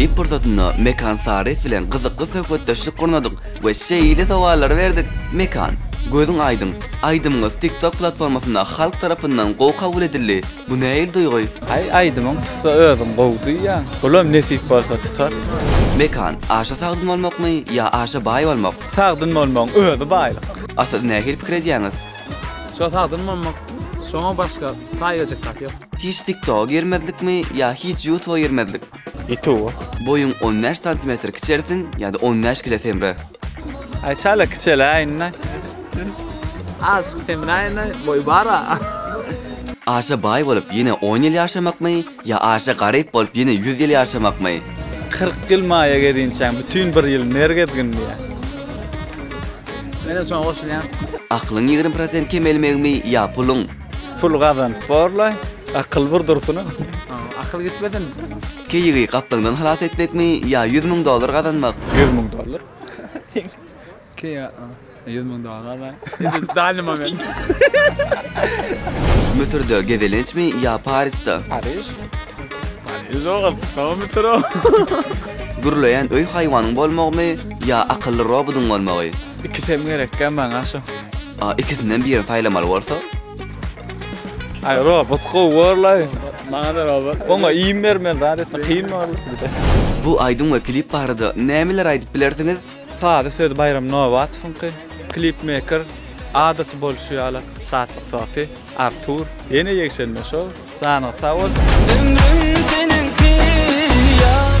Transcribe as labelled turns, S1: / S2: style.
S1: Klip pursatynda Mekan Saryýew bilen gyzykly söhbetdeşlik gurnadyk we şeýle sowallary berdik, Mekan, gözüň aýdyň, aýdymyňyz TikTok platformasynda halk tarapyndan gowy kabul edildi, bu nähili duýgy? Aý, aýdymyň tutsa özüň gowy duýýaň, bulam nesip bolsa tutar. Mekan, aşa sagdyn bolmakmy ýa aşa baý bolmak? Sagdyn bolmagyň özi baýlyk. A siz nähili pikir edýäňiz? Şo sagdyn bolmak, şoňa başga taýgajyk zat ýok. Hiç TikToga girmezlikmi ýa hiç Ýutuba girmezlik? Ýutuba. Boýuň on bäş santimetr kiçelsin ýa-da on bäş kile semre? Aýçala kiçeläýin-dä. Azjyk semräýin-dä, boýy bar-a. Aşa baý bolup ýene on ýyl ýaşamakmy Ýa aşa garyp bolup ýene ýüz ýyl ýaşamakmy? Kyrk ýyl maýa gezinçäň, bütin bir ýyl ner gezginliä. Menem şoňa goşulýan. Aklyň ýigrimi prosent kemelmegimi ýa puluň? Pul gazanyp borlaý, akyl bir dursun-a. Akyl gitmesin. Keýigi gaplaňdan halas etmekmi ýa ýüz müň dollar gazanmak? Ýüz müň dollar. Kia ýüz müň dollar bar. Ýüz dany moment. Müsürde gezelençmi ýa Parisde? Paris. Paris ogul. Hava Müsür ogul. Gürleýän öý haýwanyň bolmagymy ýa akylly robodyň bolmagy? Ikisi hem gerekkä maňa şu. A ikisinden birini saýlamaly bolsa? Aý robot gowy borlaý. Maňada robot. Oňa iým bermeli zat etmek kyn borly. Bu aýdym we klip barada nämeler aýdyp bilersiňiz? Sazy sözi Baýram Nobatowyňky, klipmeýker adaty bolşy ýaly Şatlyk Sofi, Artur, ýene ýegşenme şou, janyňyz sag bolsun! Ömrüm seniňki ýar.